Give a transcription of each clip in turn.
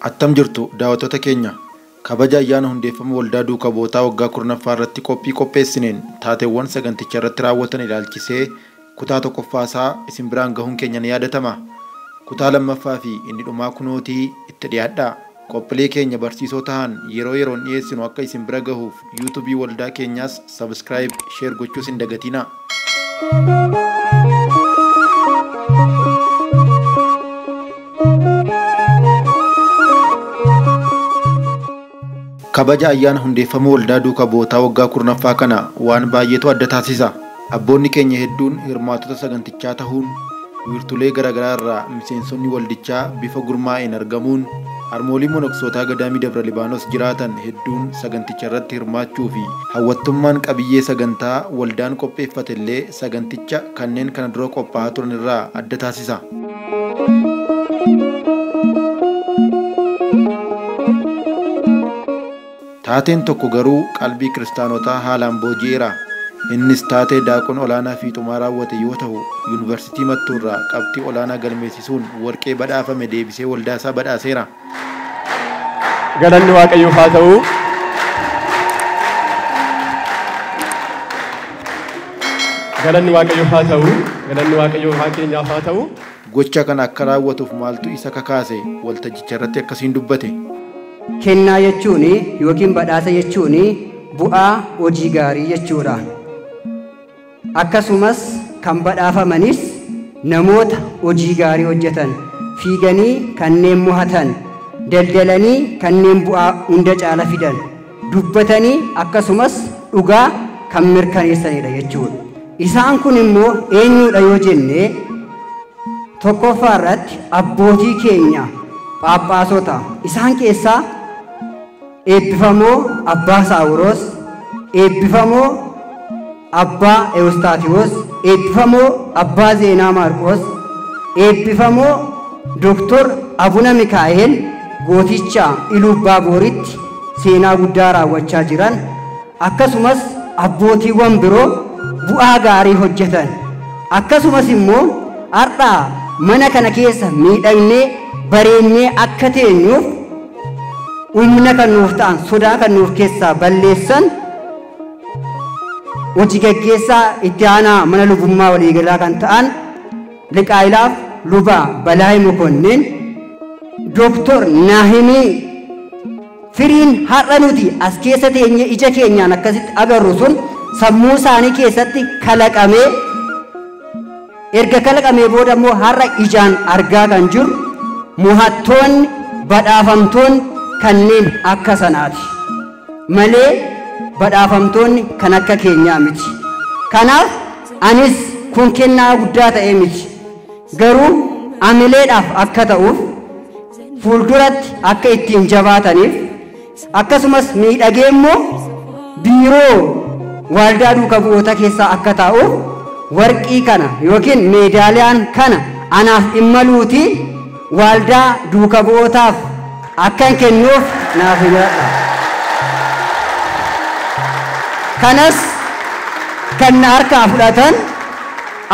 Attam jirtu daawwattoota keenya kabaja ayyaana hundeeffama waldaa duuka bu'ootaa waggaa kurnaffaa irratti qophii qopheessineen taateewwan saganticha irratti raawwatan ilaalchisee kutaa tokkoffaa isaa isin biraan gahuun keenya ni yaadatama. Kutaa lammaffaa fi inni dhumaa kunootii itti dhiyaadhaa. Qophilee keenya barsiisoo tahan yeroo yeroon dhiheessinu akka isin bira gahuuf YouTube waldaa keenyaas subscribe, share gochuus hin dagatinaa. Kabaja ayyaana hundeeffama waldaa duuka bu'ootaa waggaa 10ffaa kana waan baay'eetu adda taasisa. Abboonni keenya hedduun hirmaattota sagantichaa tahuun wiirtulee garaagaraa irraa miseensonni waldichaa bifa gurmaa'een argamuun harmoolii monoksootaa Gadaamii Dabra Libaanos jiraatan hedduun saganticha irratti hirmaachuu fi hawwattummaan qabiyyee sagantaa waldaan qopheeffate illee saganticha kanneen kana dura qophaahaa turan irraa adda taasisa. Taateen tokko garuu qalbii Kiristaanotaa haalaan booji'eera. Innis taatee Daaqon Olaanaa Fiixumaa raawwate yoo tahu, Yuunivarsiitii Mattuurraa qabxii olaanaa galmeessisuun warqee badhaafame deebisee waldaasaa badhaaseera. Galanni Waaqayyoof haa ta'u! Galanni Waaqayyoof haa ta'u! Galanni Waaqayyoo Uumaa keenyaaf haa ta'u! Gocha kana akka raawwatuuf maaltu isa kakaase? Waltajjicharratti akkasiin dubbate. Kennaa jechuun ykn badhaasa jechuun bu'aa hojii gaarii jechuudha. Akkasumas kan badhaafamanis namoota hojii gaarii hojjetan, fiiganii kanneen mo'atan, daldalanii kanneen bu'aa hunda caala fidan, dubbatanii akkasumas dhugaa kan mirkaneessanidha jechuudha. Isaan kun immoo eenyuudha yoo jenne tokkoffaa irratti abbootii keenya phaaphaasota isaan keessaa eebbifamoo abbaa saawuroos eebbifamoo Abbaa Ewustaatiwoos, Eebbifamoo Abbaa Zeenaa Maarqoos, Eebbifamoo Doktor Abuna Mikaa'eel Gooticha Iluubbaa Booritti seenaa guddaa raawwachaa jiran, akkasumas abbootiiwwan biroo bu'aa gaarii hojjetan, akkasumas immoo har'a mana kana keessa miidhagnee, bareennee akka teenyuuf humna kan nuuf ta'an, sodaa kan nuuf keessaa balleessan, Hoji gaggeessaa itti aanaa mana lubummaa waliigalaa kan ta'an liqaa'ilaaf luba Balaay Mokonnin Dooktor Naahimii firiin har'a nuti as keessa teenye ija keenyaan akkasitti agarru sun sammuu isaanii keessatti kalaqamee erga kalaqamee booda immoo har'a ijaan argaa kan jirru mohattoonni badhaafamtoonni kanneen akka sanaati. malee badhaafamtoonni kan akka keenyaa miti. Kanaaf anis kun kennaa guddaa ta'ee miti. Garuu amileedhaaf akka ta'uuf fuulduratti akka ittiin jabaataniif akkasumas miidhagee immoo biiroo waaldaa duuka bu'oota keessaa akka taa'uuf warqii kana yookiin meedaaliyaan kana anaaf hin maluutii waaldaa duuka bu'ootaaf akkan kennuuf naaf himadha. Kanas kan na harkaa fudhatan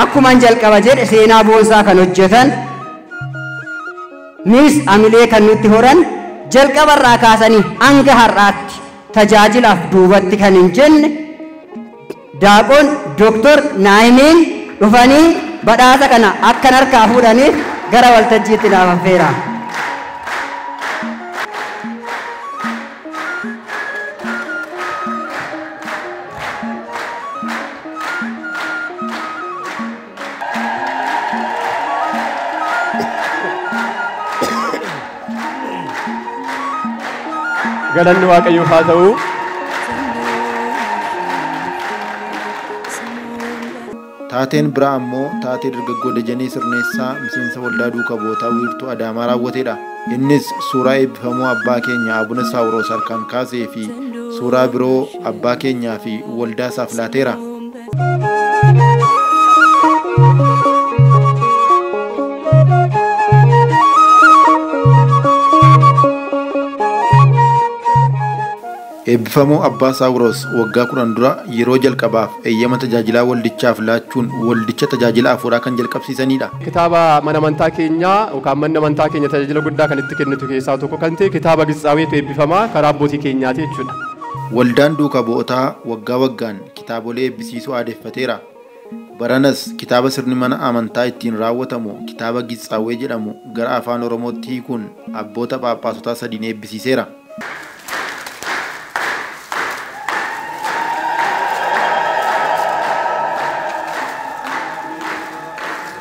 akkuman jalqaba jedhe seenaa boonsaa kan hojjetan nuus amilee kan nutti horan jalqaba irraa kaasanii hanga har'aatti tajaajilaaf duubatti kan hin jenne Daaqon Doktor Naa'imiin dhufanii badhaasa kana akkan harkaa fuudhaniif gara waltajjiitti naaf affeera. galanni waaqayyoof haa ta'u. Taateen biraa ammoo taatee dargaggoo Dajanee Sirneessaa miseensa waldaa duuka bootaa wiirtuu Adaamaa raawwatedha. Innis suuraa eebbifamuu abbaa keenya Abuna Saawuroos harkaan kaasee fi suuraa biroo abbaa keenyaa fi waldaa isaaf laateera. Eebbifamoo Abbaa Saawuroos waggaa kudhan dura yeroo jalqabaaf eeyyama tajaajilaa waldichaaf laachuun waldicha tajaajila hafuuraa kan jalqabsiisanidha. Kitaaba mana amantaa keenyaa yookaan manni amantaa keenya tajaajila guddaa kan itti kennitu keessaa tokko kan ta'e kitaaba Gitsaaweetu eebbifamaa karaa abbootii keenyaati jechuudha. Waldaan Duuka Bu'otaa waggaa waggaan kitaabolee eebbisiisuu aadeffateera. Baranas kitaaba sirni mana amantaa ittiin raawwatamu kitaaba Gitsaawwee jedhamu gara Afaan Oromootti hiikuun abboota phaaphaasotaa sadiin eebbisiiseera.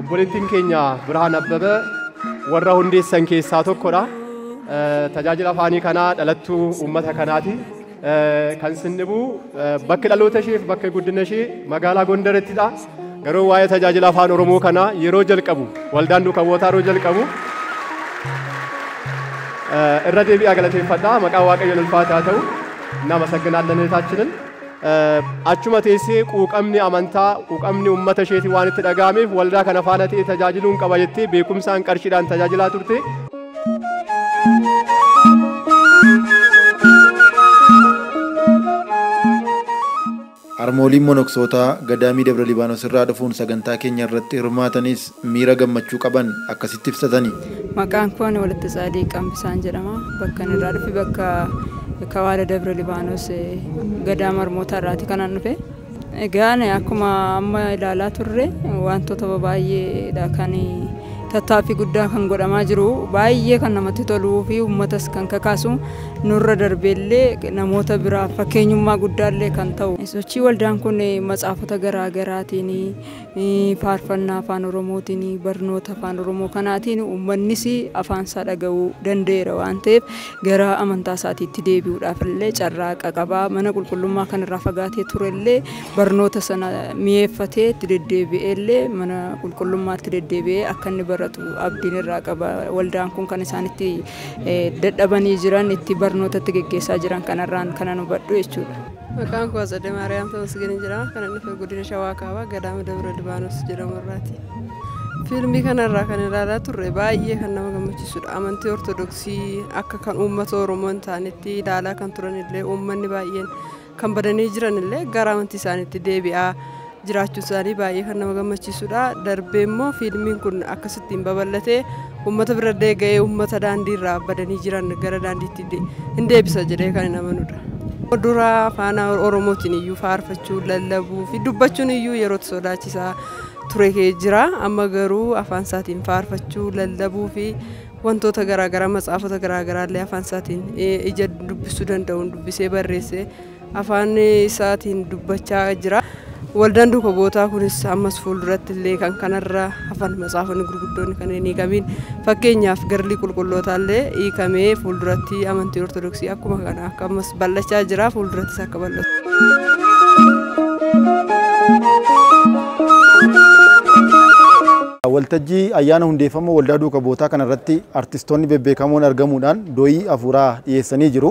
Obboleettiin keenya Birhaan Abbaba warra hundeessan keessaa tokkodha. Tajaajila afaanii kanaa dhalattuu uummata kanaati. Kan sin dhibu bakki dhaloota ishee fi bakki guddina ishee magaalaa Gondarittidha. Garuu waa'ee tajaajila afaan Oromoo kanaa yeroo jalqabu waldaan duuka bu'ootaa yeroo jalqabu irra deebi'aa galateeffadha. Maqaa Waaqayyoon ulfaataa ta'u nama sagganaallanetaachinin. Achuma teessee quuqamni amantaa, quuqamni uummata isheetii waan itti dhaga'ameef waldaa kana faana ta'ee tajaajiluun qaba jettee beekumsaan qarshiidhaan tajaajilaa turte. Harmooliin monoksootaa Gadaamii Dabra Libaanos irraa dhufuun sagantaa keenya irratti hirmaatanis miira gammachuu qaban akkasitti ibsatani. Maqaan koo ani Walatte Tsaadiiq Qambisaan jedhama. Bakkan irraa dhufe bakka Kawaala Dabre Libaanos Gadaama Harmootaa irraati kanan dhufe. Egaa ani akkuma amma ilaalaa turre wantoota baay'eedha kan tattaaffii guddaa kan godhamaa jiru baay'ee kan namatti toluu fi uummatas kan kakaasu nurra darbeellee namoota biraaf fakkeenyummaa guddaallee kan ta'u. Sochii waldaan kun matsaafota garaa garaatiin Faarfannaa Afaan Oromootiin, barnoota Afaan Oromoo kanaatiin uummannis afaan isaa dhaga'uu danda'eera waan ta'eef gara amantaa isaatiitti deebi'uudhaaf illee carraaqa qaba. Mana qulqullummaa kanarraa fagaatee ture illee barnoota sana mi'eeffatee itti deddeebi'ee illee mana qulqullummaatti deddeebi'ee akka inni baratu abdiin irraa qaba. Waldaan kun kan isaan itti eh, dadhabanii jiran, itti barnoota itti geggeessaa jiran kanarraan kanan hubadhu jechuudha. Maqaan koo Atsade Maariyaam Tamasgeen jira. Kanan dhufe godina Shawaa Kaabaa Gadaama Dabra Libaanos jedhamu irraati. Fiilmii kanarraa kan ilaalaa turre baay'ee kan nama gammachiisudha. Amantii Ortodoksii akka kan uummata Oromoo hin taanetti ilaalaa kan turanillee uummanni baay'een kan badanii jiranillee gara amantii isaaniitti deebi'aa jiraachuun isaanii baay'ee kan nama gammachiisudha. Darbee immoo fiilmiin kun akkasittiin babal'atee uummata bira illee ga'ee uummata daandii irraa badanii jiran gara daandiitti de- hin deebisa jedhee kan hin amanudha. Dura afaan Oromootiin iyyuu faarfachuu, lallabuu fi dubbachuun iyyuu yeroo itti sodaachisaa ture kee jira. Amma garuu afaan isaatiin faarfachuu, lallabuu fi wantoota garaagaraa matsaafota garaagaraa illee afaan isaatiin eh, ija dubbisuu danda'uun dubbisee barreessee afaan isaatiin dubbachaa jira. Waldaan duuka bu'ootaa kunis ammas fuulduratti illee kan kanarra hafan macaafonni gurguddoonni kan hin hiikamiin fakkeenyaaf garlii qulqullootaa illee hiikamee fuulduratti amantii ortodoksii akkuma kana akka ammas bal'achaa jira fuuldurattis akka bal'atu. Waltajjii ayyaana hundeeffama waldaa duuka bu'ootaa kanarratti artistoonni bebbeekamoon argamuudhaan do'ii hafuuraa dhiyeessanii jiru.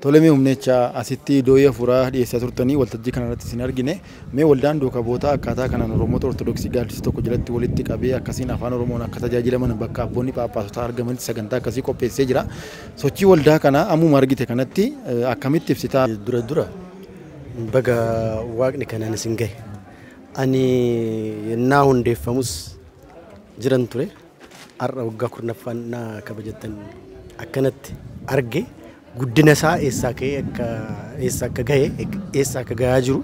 Tole mee humneecha asitti doo'ii hafuuraa dhiyeessaa turtanii waltajjii kana irratti isin argine. Mee waldaan duuka bootaa akkaataa kanaan Oromoota Ortodoksii gaaddisa tokko jalatti walitti qabee akkasiin afaan Oromoon akka tajaajilaman bakka abboonni phaaphaasotaa argamanitti sagantaa akkasii qopheessee jira. Sochii waldaa kanaa ammuma argite kanatti akkamitti ibsita? Dura dura baga waaqni kanaan isin gahe. Ani yennaa hundeeffamus jiran ture. Har'a waggaa 10ffaa ennaa kabajattan akkanatti arge guddina isaa eessaa ka'ee akka eessa akka gahe eessa akka gahaa jiru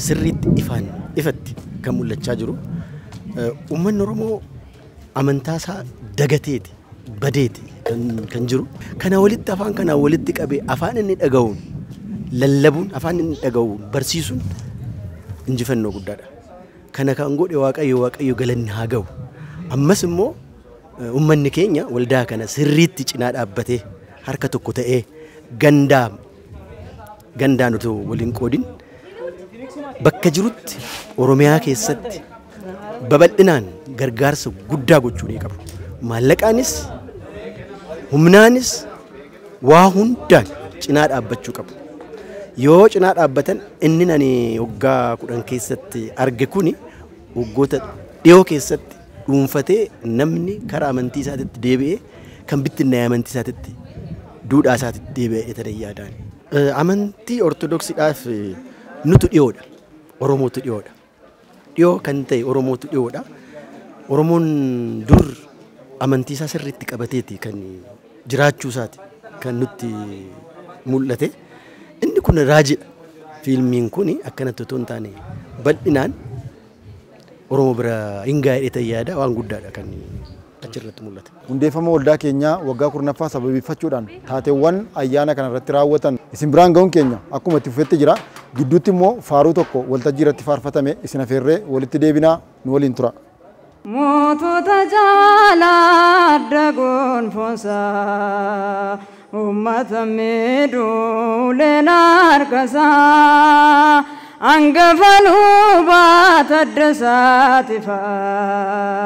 sirriitti ifaan ifatti kan mul'achaa jiru. Uummanni Oromoo amantaa isaa dagateeti badeeti kan, kan jiru. Kana walitti afaan kanaa walitti qabee afaan inni dhaga'uun lallabuun afaan inni dhaga'uun barsiisuun injifannoo guddaadha. Kana kan godhe Waaqayyo Waaqayyo galanni haa ga'u. Ammas immoo ummanni keenya waldaa kana sirriitti cinaa dhaabbatee harka tokko ta'ee gandaa gandaan otoo waliin qoodin bakka jirutti Oromiyaa keessatti babal'inaan gargaarsa guddaa gochuu ni qabu. Maallaqaanis humnaanis Waa hundaan cinaa dhaabbachuu qabu. Yoo cinaa dhaabbatan inni ani waggaa kudhan keessatti arge kuni waggoota dhiyoo keessatti dhuunfatee namni kara amantii isaatitti deebi'ee kan bittinnaa'e amantii isaatitti duudhaa isaatitti deebi'ee tanan yaadaan. Amantii Ortodoksiidhaaf nutu dhiyoodha. Oromootu dhiyoodha. Dhiyoo kan ta'e Oromootu dhiyoodha. Oromoon dur amantiisaa sirriitti qabateeti kan jiraachuusaati kan nutti mul'ate. Inni kun raajidha. Fiilmiin kun akkanatti otoo hin taane bal'inaan Oromoo bira hin gaa'edheetan yaada waan guddaadha kan achi irratti mul'ata. Hundeeffama waldaa keenyaa waggaa 10ffaa sababeeffachuudhaan taateewwan ayyaana kana irratti raawwatan isin biraan ga'uun keenya akkuma itti fufetti jira. Gidduutti immoo faaruu tokko waltajjii irratti faarfatame isin afeerree walitti deebina nu waliin tura. Mootota jaalaa adda gonfoonsaa Uummata miidhu uleen harkasaa Angafa lubaa Taddasaa Tifaa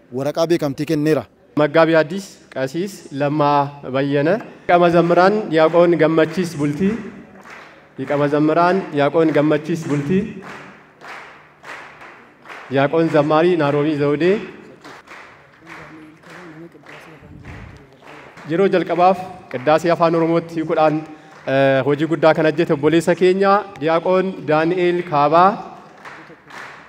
waraqaa beekamtii kenneera. Maggaabii Addis Qasiis Lammaa Bayyana. Liqa Mazammiraan Diyaaqoon Gammachiis Bultii Liqa Mazammiraan Diyaaqoon Gammachiis Bultii Diyaaqoon Zammaarii Naaroomii Zawudee Yeroo jalqabaaf qiddaasee Afaan Oromootti hiikuudhaan hojii guddaa kan hojjete obboleessa keenya Diyaaqoon Daani'eel Kaabaa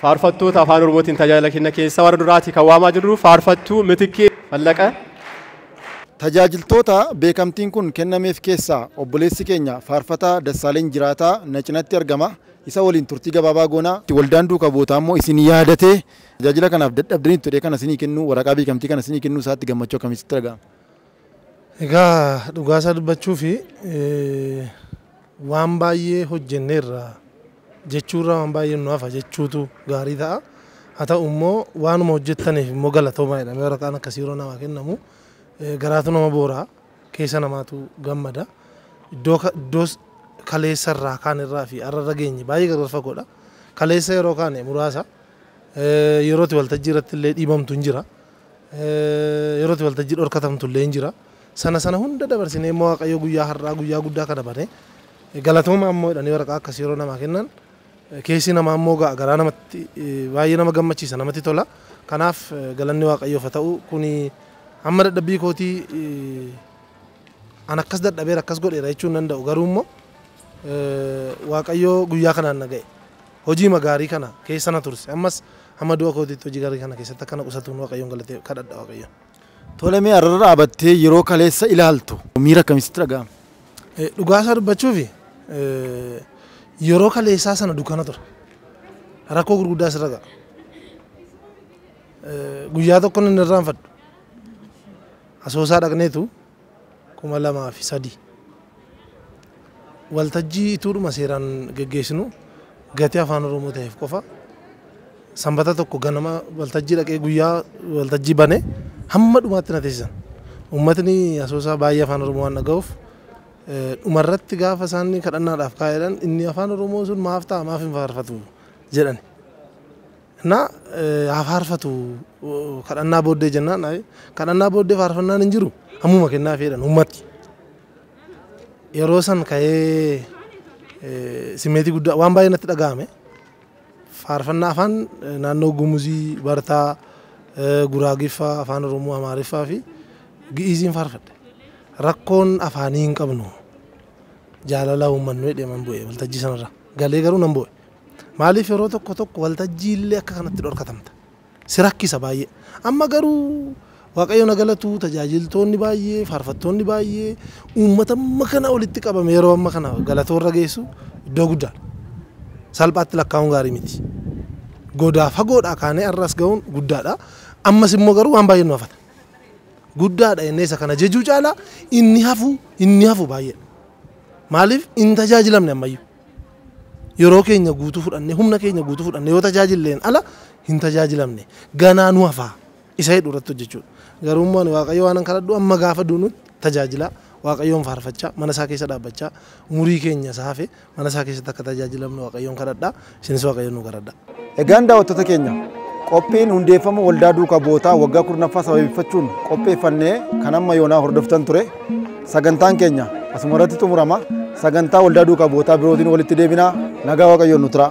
Faarfattoota afaan Oromootiin tajaajila kenna keessa warra duraatii kan waamaa jirru faarfattuu Mitikkee Fallaqa. Tajaajiltoota beekamtiin kun kennameef keessaa obboleessi keenya faarfataa Dassaaleny Jiraataa na cinatti argama. Isa waliin turtii gabaabaa goona. Waldaan Duuka Bu'ootaa immoo isin yaadatee tajaajila kanaaf dadhabdaniittu jedhee kana isinii kennuu waraqaa beekamtii kana isinii kennuu isaatti gammachuu akkamii sitti dhaga'ama? Egaa dhugaa isaa dubbachuuf Waan baay'ee hojjenneerra jechuurra waan baay'een nu hafa jechuutu gaarii ta'a. Haa ta'u immoo waanuma hojjettaniif immoo galatoomaa jedhamee waraqaan akkasii yeroo namaa kennamu garaatu nama boora, keessa namaatu gammada. Iddoo iddoo kaleessa irraa kaan irraa fi har'a irra geenye baay'ee gargar fagoodha. Kaleessa yeroo kaane muraasa yeroo itti waltajjii irratti illee dhiibamtu hin jira. Yeroo itti waltajjii dhorkatamtu illee hin jira. Sana sana hunda dabarsinee immoo Waaqayyo guyyaa har'aa guyyaa guddaa kana bane galatooma ammoo jedhanii waraqaa akkasii yeroo namaa kennan keessi namaa immoo ga'a garaa namatti baay'ee nama gammachiisa namatti tola. Kanaaf galanni Waaqayyoof haa ta'u kuni amma dadhabbii kootii an akkas dadhabeera akkas godheera jechuu hin danda'u garuu immoo Waaqayyo guyyaa kanaan na ga'e. Hojiima gaarii kana keessa na turse. Ammas hamma du'a kootiitti hojii gaarii kana keessatti akka na qusatuun Waaqayyoon galatee kadhadha Waaqayyoon. Tole mee arrara dhaabattee yeroo kaleessa ilaaltu miira akkamii sitti dhaga'ame? Dhugaa isaa dubbachuufi yeroo kaleessaa sana dukkana ture. Rakkoo gurguddaa sirra ga'a. Guyyaa tokkon hin irraanfadhu. Asoosaa dhaqneetu 2003. Waltajjii ituudhuma seeraan geggeessinu gatii Afaan Oromoo taheef qofa Sanbata tokko ganama waltajjii dhaqee guyyaa waltajjii bane hamma dhumaatti na teessisan. Uummatni Asoosaa baay'ee Afaan Oromoo waan dhagahuuf dhumarratti gaafa isaan kadhannaadhaaf kaa'eedhaan inni Afaan Oromoo sun maaf ta'a maaf hin faarfatu jedhani. Na haa faarfatu kadhannaa booddee jennaan ayi kadhannaa booddee faarfannaan hin jiru ammuma kennaa feedhan ummatti. Yeroo san ka'ee simmeetii guddaa waan baay'ee natti dhaga'ame. Faarfannaa afaan naannoo Gumuzii, Bartaa, Guraagiffaa, afaan Oromoo, Amaariffaa fi Gi'iiziin faarfadhe. Rakkoon afaanii hin qabnu jaalala uummannu jedhee man bu'e waltajjii sanarra galee garuu nan bu'e. Maaliif yeroo tokko tokko waltajjii illee akka kanatti dhorkatamta? Si rakkisa baay'ee. Amma garuu Waaqayyoon haa galatu tajaajiltoonni baay'ee, faarfattoonni baay'ee, uummata amma kana walitti qabame yeroo amma kana galatoo irra geessu iddoo guddaadha. Salphaatti lakkaa'uun gaarii miti. Godaa fagoodhaa kaanee har'a as ga'uun guddaadha. Ammas immoo garuu waan baay'ee nu hafata. Guddaadha jennee isa kana jejuu caalaa inni hafu inni hafu baay'eedha. Maaliif hin tajaajilamne ammayyuu. Yeroo keenya guutuu fudhannee, humna keenya guutuu fudhannee yoo tajaajilleen ala hin tajaajilamne. Ganaa nu hafa isa jedhu irratti hojjechuudha. Garuu immoo ani Waaqayyo waanan kadhadhu amma gaafa duunutti tajaajilaa Waaqayyoon faarfachaa mana isaa keessa dhaabbachaa umurii keenya isa hafe mana isaa keessatti akka tajaajilamnu Waaqayyoon kadhadha. Isinis Waaqayyoon nu garadhaa. Egaan daawwattoota keenya qophiin hundeeffama waldaa duuka bootaa waggaa kurnaffaa sababeeffachuun qopheeffannee kan amma yoonaa hordoftan ture sagantaan keenya asuma irratti xumurama sagantaa waldaa duuka bootaa birootiin walitti deebinaa nagaa waaqayyoon nu turaa.